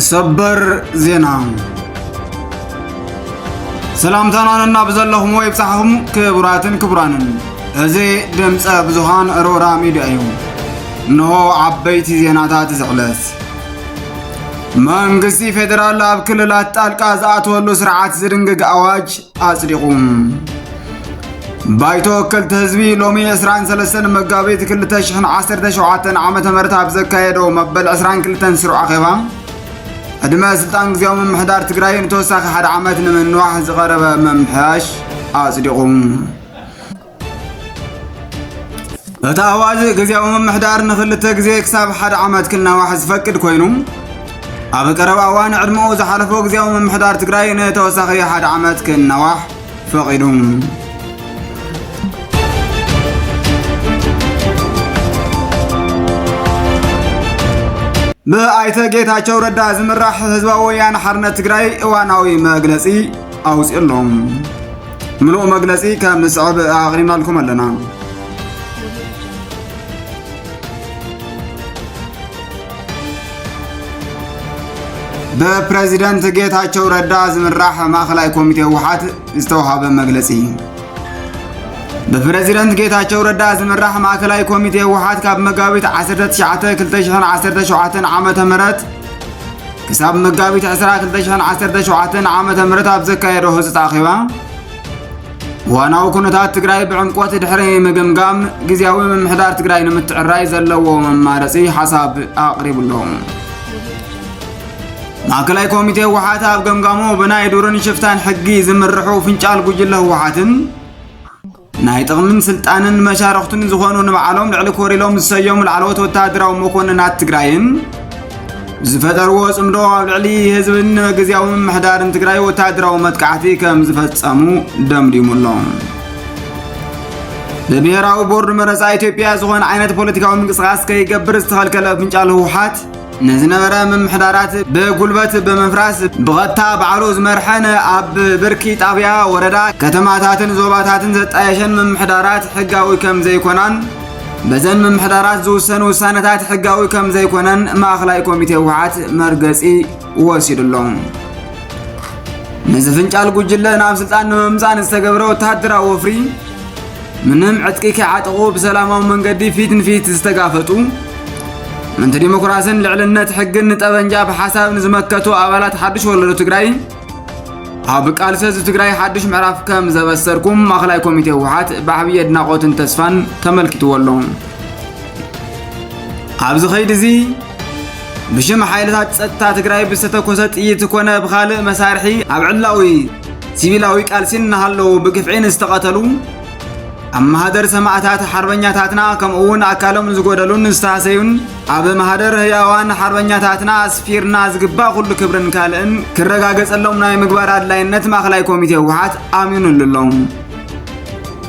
ሰበር ዜና ሰላምታና ነናብ ዘለኹም ወይ ብጻሕኹም ክቡራትን ክቡራንን እዚ ድምፀ ብዙሃን ሮራ ሚድያ እዩ እነሆ ዓበይቲ ዜናታት ዝዕለት መንግስቲ ፌዴራል ኣብ ክልላት ጣልቃ ዝኣተወሉ ስርዓት ዝድንግግ ኣዋጅ ኣጽዲቑ። ባይቶ ወከልቲ ህዝቢ ሎሚ 23 መጋቢት 2017 ዓ ም ኣብ ዘካየዶ መበል 22 ስሩዕ ኣኼባ ዕድመ ስልጣን ግዜያዊ ምምሕዳር ትግራይ ንተወሳኺ ሓደ ዓመት ንምንዋሕ ዝቐረበ ምምሕያሽ ኣጽዲቑ። እቲ ኣዋጅ ግዜያዊ ምምሕዳር ንክልተ ግዜ ክሳብ ሓደ ዓመት ክናዋሕ ዝፈቅድ ኮይኑ ኣብ ቀረባ እዋን ዕድመኡ ዝሓለፎ ግዜያዊ ምምሕዳር ትግራይ ንተወሳኺ ሓደ ዓመት ክናዋሕ ፈቒዱ ብኣይተ ጌታቸው ረዳ ዝምራሕ ህዝባዊ ወያነ ሓርነት ትግራይ እዋናዊ መግለፂ ኣውፅኡ ኣሎ ምሉእ መግለፂ ከም ዝስዕብ ኣቕሪብናልኩም ኣለና። በፕሬዚደንት ጌታቸው ረዳ ዝምራሕ ማእኸላይ ኮሚቴ ህወሓት ዝተውሃበ መግለፂ ብፕሬዚደንት ጌታቸው ረዳ ዝምራሕ ማእከላይ ኮሚቴ ህወሓት ካብ መጋቢት 19 2017 ዓ ም ክሳብ መጋቢት 2217 ዓ ም ኣብ ዘካየዶ ህፁፅ ኣኼባ ዋናዊ ኩነታት ትግራይ ብዕምቆት ድሕሪ ምግምጋም ግዜያዊ ምምሕዳር ትግራይ ንምትዕራይ ዘለዎ መማረፂ ሓሳብ ኣቕሪቡሎ ማእከላይ ኮሚቴ ህወሓት ኣብ ገምጋሙ ብናይ ዱርን ሽፍታን ሕጊ ዝምርሑ ፍንጫል ጉጅለ ህወሓትን ናይ ጥቕምን ስልጣንን መሻርኽቱን ዝኾኑ ንባዕሎም ልዕሊ ኮር ኢሎም ዝሰየሙ ላዕለዎት ወተሃደራዊ መኮንናት ትግራይን ዝፈጠርዎ ጽምዶ ኣብ ልዕሊ ህዝብን ግዜያዊ ምምሕዳርን ትግራይ ወተሃደራዊ መጥቃዕቲ ከም ዝፈጸሙ ደምዲሙ ኣሎ ብብሔራዊ ቦርድ መረፃ ኢትዮጵያ ዝኾነ ዓይነት ፖለቲካዊ ምንቅስቓስ ከይገብር ዝተኸልከለ ፍንጫል ህወሓት ንዝነበረ ምምሕዳራት ብጉልበት ብምፍራስ ብቐጥታ ባዕሉ ዝመርሐን ኣብ ብርኪ ጣብያ፣ ወረዳ፣ ከተማታትን ዞባታትን ዘጣየሸን ምምሕዳራት ሕጋዊ ከም ዘይኮናን በዘን ምምሕዳራት ዝውሰን ውሳነታት ሕጋዊ ከም ዘይኮነን ማእኸላይ ኮሚቴ ህወሓት መርገፂ ወሲዱ ኣሎ። ንዝፍንጫል ጉጅለ ናብ ስልጣን ንምምፃእ ንዝተገብረ ወተሃደራዊ ወፍሪ ምንም ዕጥቂ ከይዓጠቑ ብሰላማዊ መንገዲ ፊት ንፊት ዝተጋፈጡ ምንቲ ዲሞክራስን ልዕልነት ሕግን ንጠበንጃ ብሓሳብ ንዝመከቱ ኣባላት ሓድሽ ወለዶ ትግራይ ኣብ ቃልሲ ህዝቢ ትግራይ ሓድሽ ምዕራፍ ከም ዘበሰርኩም ማእኸላይ ኮሚቴ ህወሓት ብዓብዪ ኣድናቖትን ተስፋን ተመልኪትዎ ኣሎ ኣብዚ ኸይዲ እዚ ብሽም ሓይልታት ጸጥታ ትግራይ ብዝተተኮሰ ጥይት ኮነ ብኻልእ መሳርሒ ኣብ ዕላዊ ሲቪላዊ ቃልሲ እናሃለዉ ብግፍዒ ንዝተቐተሉ ኣብ ማህደር ሰማእታት ሓርበኛታትና ከምኡውን ኣካሎም ዝጎደሉን ዝተሃሰዩን ኣብ ማህደር ህያዋን ሓርበኛታትና ኣስፊርና ዝግባእ ኩሉ ክብርን ካልእን ክረጋገጸሎም ናይ ምግባር ኣድላይነት ማእከላይ ኮሚቴ ህወሓት ኣሚኑሉ ኣሎ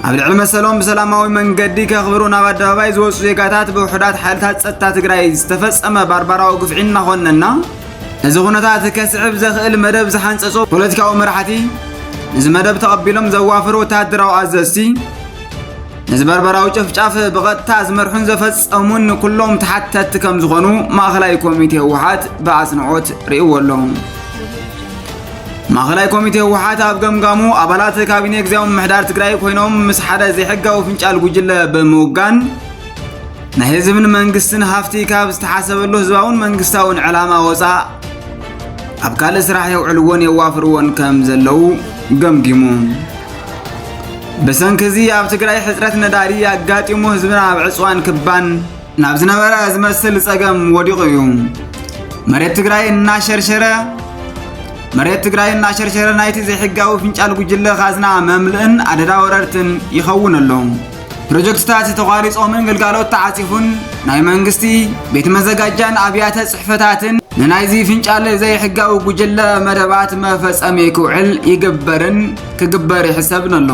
ኣብ ልዕሊ መሰሎም ብሰላማዊ መንገዲ ከኽብሩ ናብ ኣደባባይ ዝወፁ ዜጋታት ብውሑዳት ሓይልታት ጸጥታ ትግራይ ዝተፈጸመ ባርባራዊ ግፍዒ እናኾነና ነዚ ኩነታት ከስዕብ ዘኽእል መደብ ዝሓንጸጹ ፖለቲካዊ መራሕቲ፣ ነዚ መደብ ተቐቢሎም ዘዋፍሩ ወተሃደራዊ ኣዘዝቲ፣ ነዚ በርበራዊ ጨፍጫፍ ብቐጥታ ዝመርሑን ዘፈጸሙን ኩሎም ተሓተትቲ ከም ዝኾኑ ማእኸላይ ኮሚቴ ህወሓት ብኣጽንዖት ርእይዎ ኣሎ። ማእኸላይ ኮሚቴ ህወሓት ኣብ ገምጋሙ ኣባላት ካቢኔ ግዜያዊ ምምሕዳር ትግራይ ኮይኖም ምስ ሓደ ዘይሕጋዊ ፍንጫል ጉጅለ ብምውጋን ናይ ህዝብን መንግስትን ሃፍቲ ካብ ዝተሓሰበሉ ህዝባውን መንግስታውን ዕላማ ወፃእ ኣብ ካልእ ስራሕ የውዕልዎን የዋፍርዎን ከም ዘለዉ ገምጊሙ ብሰንኪ እዚ ኣብ ትግራይ ሕፅረት ነዳዲ ኣጋጢሙ ህዝብና ኣብ ዕፅዋን ክባን ናብ ዝነበረ ዝመስል ፀገም ወዲቑ እዩ መሬት ትግራይ እናሸርሸረ መሬት ትግራይ እናሸርሸረ ናይቲ ዘይሕጋዊ ፍንጫል ጉጅለ ካዝና መምልእን ኣደዳ ወረርትን ይኸውን ኣሎ ፕሮጀክትታት ተቋሪጾምን ግልጋሎት ተዓጺፉን ናይ መንግስቲ ቤት መዘጋጃን ኣብያተ ጽሕፈታትን ንናይዚ ፍንጫል ዘይሕጋዊ ጉጅለ መደባት መፈጸሚ ክውዕል ይግበርን ክግበር ይሕሰብን ኣሎ።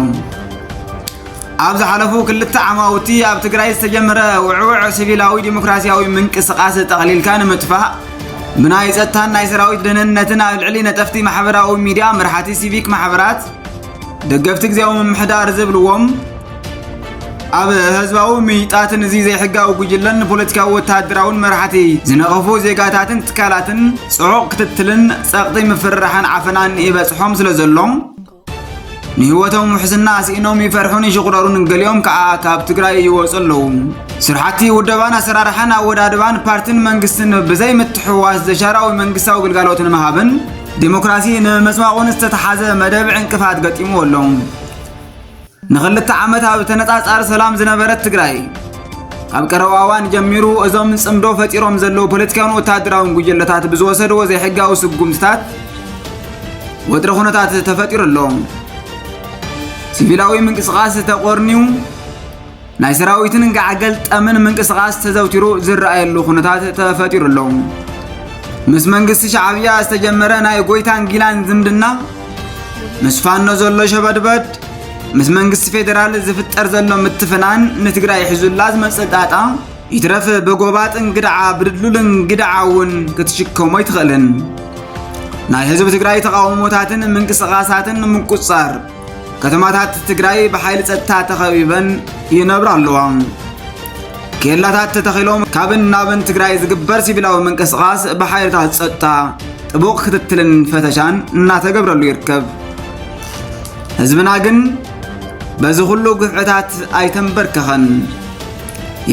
ኣብ ዝሓለፉ ክልተ ዓማውቲ ኣብ ትግራይ ዝተጀመረ ውዕውዕ ሲቪላዊ ዲሞክራሲያዊ ምንቅስቓስ ጠቕሊልካ ንምጥፋእ ብናይ ጸጥታን ናይ ሰራዊት ደህንነትን ኣብ ልዕሊ ነጠፍቲ ማሕበራዊ ሚድያ መራሕቲ ሲቪክ ማሕበራት ደገፍቲ ግዜያዊ ምምሕዳር ዝብልዎም ኣብ ህዝባዊ ምይጣትን እዚ ዘይሕጋዊ ጉጅለን ፖለቲካዊ ወተሃደራውን መራሕቲ ዝነቐፉ ዜጋታትን ትካላትን ጽዑቕ ክትትልን ጸቕጢ ምፍርራሕን ዓፈናን ይበጽሖም ስለ ዘሎ ንህይወቶም ውሕስና ስኢኖም ይፈርሑን ይሽቑረሩን ገሊኦም ከዓ ካብ ትግራይ ይወፁ ኣለዉ ስራሕቲ ውደባን ኣሰራርሓን ኣወዳድባን ፓርቲን መንግስትን ብዘይምትሕዋስ ዘሻራዊ መንግስታዊ ግልጋሎት ንምሃብን ዴሞክራሲ ንምምፅባቑን ዝተተሓዘ መደብ ዕንቅፋት ገጢምዎ ኣሎ። ንክልተ ዓመት ኣብ ተነፃፃሪ ሰላም ዝነበረት ትግራይ ካብ ቀረባ እዋን ጀሚሩ እዞም ጽምዶ ፈጢሮም ዘለዉ ፖለቲካውን ወታደራውን ጉጅለታት ብዝወሰድዎ ዘይሕጋዊ ስጉምትታት ወጥሪ ኩነታት ተፈጢሩ ኣሎ። ሲቪላዊ ምንቅስቓስ ተቖርንዩ ናይ ሰራዊትን ጋዕገል ጠምን ምንቅስቓስ ተዘውቲሩ ዝረኣየሉ ኩነታት ተፈጢሩ ኣሎ። ምስ መንግስቲ ሻዕብያ ዝተጀመረ ናይ ጎይታን ጊላን ዝምድና ምስ ፋኖ ዘሎ ሸበድበድ ምስ መንግስቲ ፌዴራል ዝፍጠር ዘሎ ምትፍናን ንትግራይ ሒዙላ ዝመፅእ ጣጣ ይትረፍ ብጎባጥን ግድዓ ብድልዱልን ግድዓ እውን ክትሽከሞ ኣይትኽእልን። ናይ ህዝቢ ትግራይ ተቃውሞታትን ምንቅስቓሳትን ንምቁፅፃር ከተማታት ትግራይ ብሓይሊ ጸጥታ ተኸቢበን ይነብራ ኣለዋ። ኬላታት ተተኺሎም ካብን ናብን ትግራይ ዝግበር ሲቪላዊ ምንቅስቓስ ብሓይልታት ጸጥታ ጥቡቕ ክትትልን ፈተሻን እናተገብረሉ ይርከብ። ህዝብና ግን በዚ ኩሉ ግፍዕታት ኣይተንበርከኸን።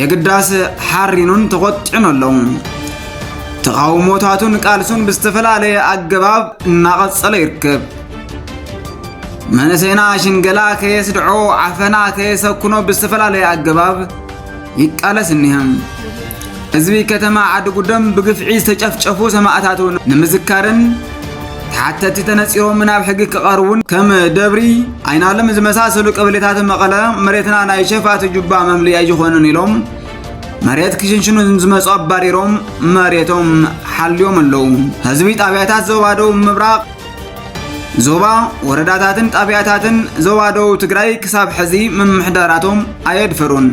የግዳስ ሓሪኑን ተቖጢዑን ኣሎ። ተቓውሞታቱን ቃልሱን ብዝተፈላለየ ኣገባብ እናቐጸለ ይርከብ። መንእሰይና ሽንገላ ከየስድዖ ዓፈና ከየሰኩኖ ብዝተፈላለየ ኣገባብ ይቃለስ እኒሀም ህዝቢ ከተማ ዓዲ ጉደም ብግፍዒ ዝተጨፍጨፉ ሰማእታቱ ንምዝካርን ተሓተቲ ተነፂሮም ናብ ሕጊ ክቐርቡን ከም ደብሪ ኣይናለም ዝመሳሰሉ ቀበሌታት መቐለ መሬትና ናይ ሸፋቱ ጁባ መምልኢ ኣይኮነን ኢሎም መሬት ክሽንሽኑ ዝመፁ ኣባሪሮም መሬቶም ሓልዮም ኣለዉ ህዝቢ ጣብያታት ዞባ ደቡብ ምብራቕ ዞባ ወረዳታትን ጣብያታትን ዞባ ደቡብ ትግራይ ክሳብ ሕዚ ምምሕዳራቶም ኣየድፈሩን።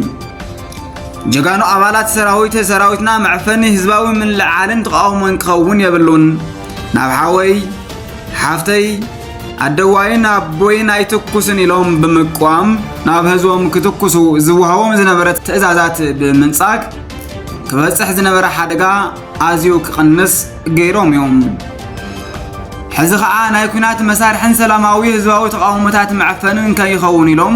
ጀጋኑ ኣባላት ሰራዊት ሰራዊትና መዕፈኒ ህዝባዊ ምልዕዓልን ተቃውሞን ክኸውን የብሉን። ናብ ሓወይ ሓፍተይ ኣደዋይን ኣቦይን ኣይትኩስን ኢሎም ብምቋም ናብ ህዝቦም ክትኩሱ ዝወሃቦም ዝነበረ ትእዛዛት ብምንጻግ ክበጽሕ ዝነበረ ሓደጋ ኣዝዩ ክቕንስ ገይሮም እዮም። ሕዚ ከዓ ናይ ኩናት መሳርሕን ሰላማዊ ህዝባዊ ተቃውሞታት መዕፈንን ከይኸውን ኢሎም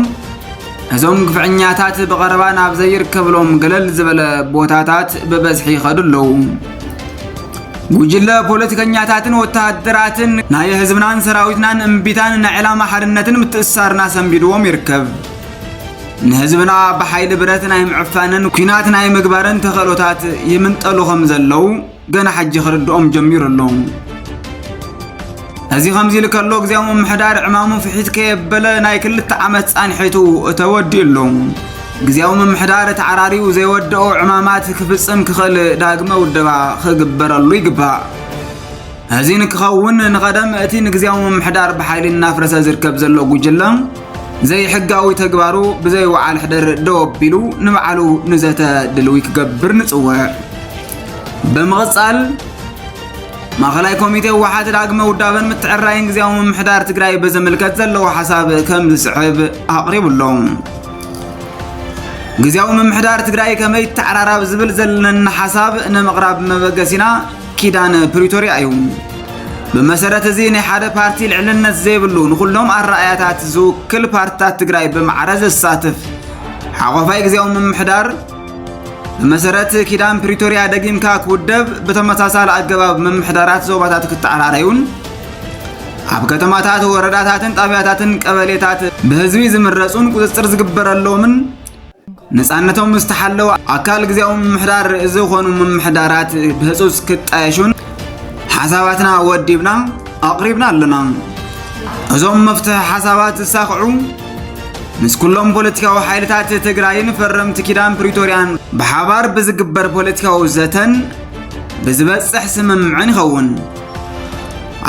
እዞም ግፍዕኛታት ብቐረባ ናብ ዘይርከብሎም ገለል ዝበለ ቦታታት ብበዝሒ ይኸዱ ኣለዉ። ጉጅለ ፖለቲከኛታትን ወተሃደራትን ናይ ህዝብናን ሰራዊትናን እምቢታን ናይ ዕላማ ሓድነትን ምትእስሳርና ሰንቢድዎም ይርከብ። ንህዝብና ብሓይሊ ብረት ናይ ምዕፋንን ኩናት ናይ ምግባርን ተኸእሎታት ይምንጠሉ ከም ዘለዉ ገና ሕጂ ክርድኦም ጀሚሩ ኣሎ። እዚ ከምዚ ኢሉ ከሎ ግዜያዊ ምምሕዳር ዕማሙ ፍሒት ከየበለ ናይ ክልተ ዓመት ጻንሒቱ ተወዲኡ ኣሎ። ግዜያዊ ምምሕዳር ተዓራርዩ ዘይወደኦ ዕማማት ክፍጽም ክኽእል ዳግመ ውደባ ክግበረሉ ይግባእ። እዚ ንክኸውን ንቐደም እቲ ንግዜያዊ ምምሕዳር ብሓይሊ እናፍረሰ ዝርከብ ዘሎ ጉጅለ ዘይሕጋዊ ተግባሩ ብዘይ ወዓል ሕደር ደው ኣቢሉ ንባዕሉ ንዘተ ድልዊ ክገብር ንጽውዕ። ብምቕጻል ማእኸላይ ኮሚቴ ህወሓት ዳግመ ውዳበን ምትዕራይን ግዜያዊ ምምሕዳር ትግራይ በዘምልከት ዘለዎ ሓሳብ ከም ዝስዕብ ኣቕሪቡ ኣሎ። ግዜያዊ ምምሕዳር ትግራይ ከመይ ይተዓራራብ ዝብል ዘለና ሓሳብ ንምቕራብ መበገሲና ኪዳን ፕሪቶርያ እዩ። ብመሰረት እዚ ናይ ሓደ ፓርቲ ልዕልነት ዘይብሉ ንኹሎም ኣረኣያታት ዝውክል ፓርትታት ትግራይ ብማዕረ ዘሳትፍ ሓቆፋይ ግዜያዊ ምምሕዳር ብመሰረት ኪዳን ፕሪቶርያ ደጊምካ ክውደብ ብተመሳሳሊ ኣገባብ ምምሕዳራት ዞባታት ክተዓራረዩን ኣብ ከተማታት ወረዳታትን ጣብያታትን ቀበሌታት ብህዝቢ ዝምረፁን ቁፅፅር ዝግበረሎምን ነፃነቶም ዝተሓለወ ኣካል ግዜያዊ ምምሕዳር ዝኾኑ ምምሕዳራት ብህፁፅ ክጣየሹን ሓሳባትና ወዲብና ኣቕሪብና ኣለና እዞም መፍትሒ ሓሳባት ዝሳኽዑ ምስ ኩሎም ፖለቲካዊ ሓይልታት ትግራይን ፈረምቲ ኪዳን ፕሪቶርያን ብሓባር ብዝግበር ፖለቲካዊ ዘተን ብዝበፅሕ ስምምዕን ይኸውን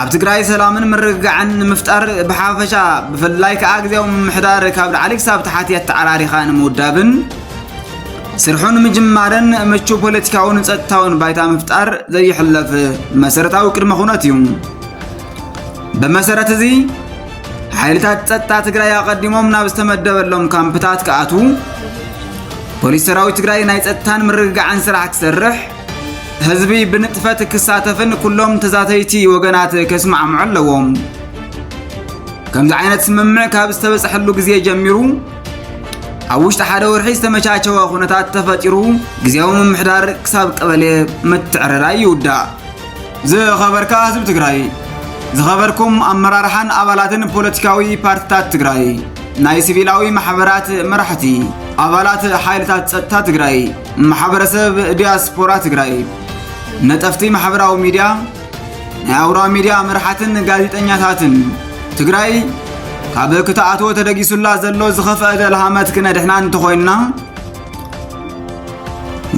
ኣብ ትግራይ ሰላምን ምርግጋዕን ንምፍጣር ብሓፈሻ ብፍላይ ከዓ ግዜያዊ ምምሕዳር ካብ ላዕሊ ክሳብ ታሕቲ ኣተዓራሪኻ ንምውዳብን ስርሑ ንምጅማርን ምቹው ፖለቲካውን ጸጥታውን ባይታ ምፍጣር ዘይሕለፍ መሰረታዊ ቅድመ ኩነት እዩ። ብመሰረት እዚ ሓይልታት ጸጥታ ትግራይ ኣቐዲሞም ናብ ዝተመደበሎም ካምፕታት ክኣትዉ፣ ፖሊስ ሰራዊት ትግራይ ናይ ጸጥታን ምርግጋዕን ስራሕ ክሰርሕ፣ ህዝቢ ብንጥፈት ክሳተፍን ኩሎም ተዛተይቲ ወገናት ከስማዕምዑ ኣለዎም። ከምዚ ዓይነት ስምምዕ ካብ ዝተበፅሐሉ ግዜ ጀሚሩ ኣብ ውሽጢ ሓደ ወርሒ ዝተመቻቸወ ኩነታት ተፈጢሩ ግዜያዊ ምምሕዳር ክሳብ ቀበሌ ምትዕርራይ ይውዳእ። ዝኸበርካ ህዝቢ ትግራይ፣ ዝኸበርኩም ኣመራርሓን ኣባላትን ፖለቲካዊ ፓርቲታት ትግራይ፣ ናይ ሲቪላዊ ማሕበራት መራሕቲ፣ ኣባላት ሓይልታት ፀጥታ ትግራይ ማሕበረሰብ ዲያስፖራ ትግራይ ነጠፍቲ ማሕበራዊ ሚድያ ናይ ኣውራ ሚድያ መርሓትን ጋዜጠኛታትን ትግራይ ካብ ክትኣትዎ ተደጊሱላ ዘሎ ዝኸፍአ ደልሃመት ክነድሕና እንተኾይንና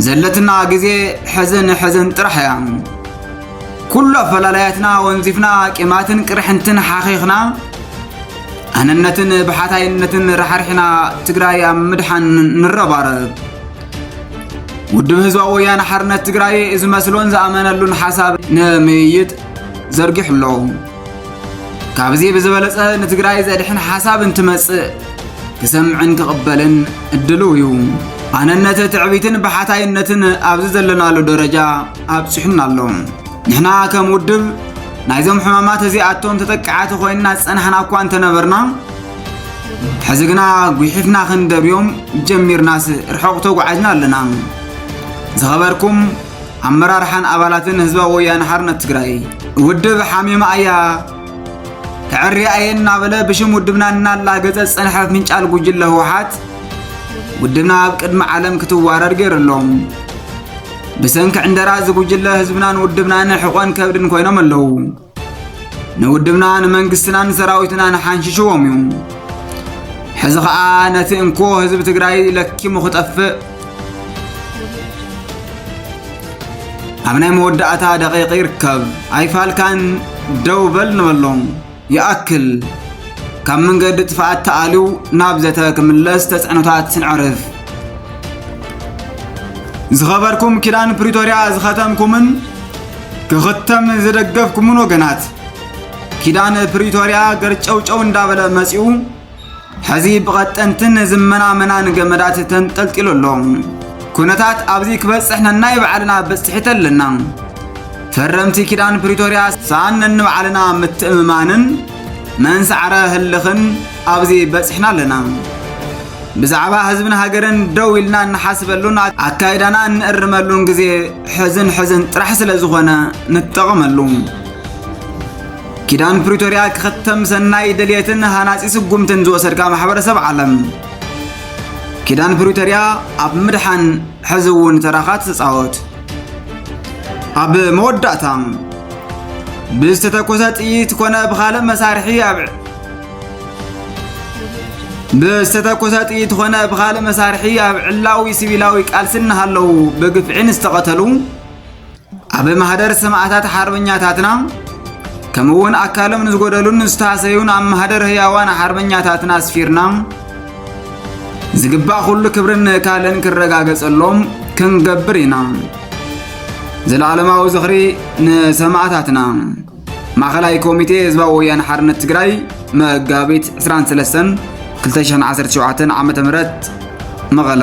ዘለትና ግዜ ሕዝን ሕዝን ጥራሕ እያ ኩሉ ኣፈላላያትና ወንዚፍና ቂማትን ቅርሕንትን ሓኺኽና ኣነነትን ብሓታይነትን ራሕሪሕና ትግራይ ኣብ ምድሓን ንረባረብ። ውድብ ህዝባዊ ወያነ ሓርነት ትግራይ ዝመስሎን ዝኣመነሉን ሓሳብ ንምይይጥ ዘርጊሑ ኣሎ። ካብዚ ብዝበለፀ ንትግራይ ዘድሕን ሓሳብ እንትመፅእ ክሰምዕን ክቕበልን እድልው እዩ። ኣነነት ትዕቢትን ብሓታይነትን ኣብዚ ዘለናሉ ደረጃ ኣብፂሑና ኣሎ። ንሕና ከም ውድብ ናይዞም ሕማማት እዚኣቶም ተጠቃዕቲ ኮይንና ዝጸናሕና እኳ እንተነበርና ሕዚ ግና ጒሒፍና ክንደብዮም ጀሚርናስ ርሑቕ ተጓዒዝና ኣለና ዝኸበርኩም ኣመራርሓን ኣባላትን ህዝባዊ ወያነ ሓርነት ትግራይ ውድብ ሓሚማ እያ ክዕርያ እየ እናበለ ብሽም ውድብና እናላገጸ ዝጸንሐ ፍንጫል ጉጅለ ህወሓት ውድብና ኣብ ቅድሚ ዓለም ክትዋረድ ገይሩ ኣሎ ብሰንኪ ዕንደራ እዚ ጉጅለ ህዝብናን ውድብናን ሕቖን ከብድን ኮይኖም ኣለዉ። ንውድብና ንመንግስትናን ሰራዊትናን ሓንሽሽዎም እዩ። ሕዚ ኸኣ ነቲ እንኮ ህዝቢ ትግራይ ለኪሙ ክጠፍእ ኣብ ናይ መወዳእታ ደቂቕ ይርከብ። ኣይፋልካን ደው በል ንበሎም። ይኣክል! ካብ መንገዲ ጥፍኣት ተኣልዩ ናብ ዘተ ክምለስ ተፅዕኖታት ስንዕርፍ። ዝኸበርኩም ኪዳን ፕሪቶርያ ዝኸተምኩምን ክኽተም ዝደገፍኩምን ወገናት ኪዳን ፕሪቶርያ ገርጨውጨው እንዳበለ መፂኡ ሕዚ ብቐጠንትን ዝመናመናን ገመዳት ተንጠልጢሉ ኣሎ። ኩነታት ኣብዚ ክበጽሕ ነናይ ባዕልና ብጽሒት ኣለና። ፈረምቲ ኪዳን ፕሪቶርያ ሳን ነንባዕልና ምትእምማንን መንሳዕረ ህልኽን ኣብዚ በጽሕና ኣለና። ብዛዕባ ህዝብን ሃገርን ደው ኢልና እንሓስበሉን ኣካይዳና እንእርመሉን ግዜ ሕዝን ሕዝን ጥራሕ ስለ ዝኾነ ንጠቐመሉ። ኪዳን ፕሪቶርያ ክኽተም ሰናይ ድልየትን ሃናጺ ስጉምትን ዝወሰድካ ማሕበረሰብ ዓለም ኪዳን ፕሪቶርያ ኣብ ምድሓን ሕዚ እውን ተራኻ ትጻወት። ኣብ መወዳእታ ብዝተተኮሰ ጥይት ኮነ ብካልእ መሳርሒ ኣብ ብዝተተኮሰ ጥይት ኮነ ብካልእ መሳርሒ ኣብ ዕላዊ ሲቪላዊ ቃልሲ እናሃለዉ ብግፍዒ ንዝተቐተሉ ኣብ ማህደር ሰማዕታት ሓርበኛታትና ከምኡ እውን ኣካሎም ንዝጎደሉን ዝተሃሰዩን ኣብ ማህደር ህያዋን ሓርበኛታትና ኣስፊርና ዝግባእ ኩሉ ክብርን ንእካልን ክረጋገጸሎም ክንገብር ኢና። ዘለዓለማዊ ዝኽሪ ንሰማዕታትና። ማእኸላይ ኮሚቴ ህዝባዊ ወያነ ሓርነት ትግራይ መጋቢት 23 2017 ዓ ም መቐለ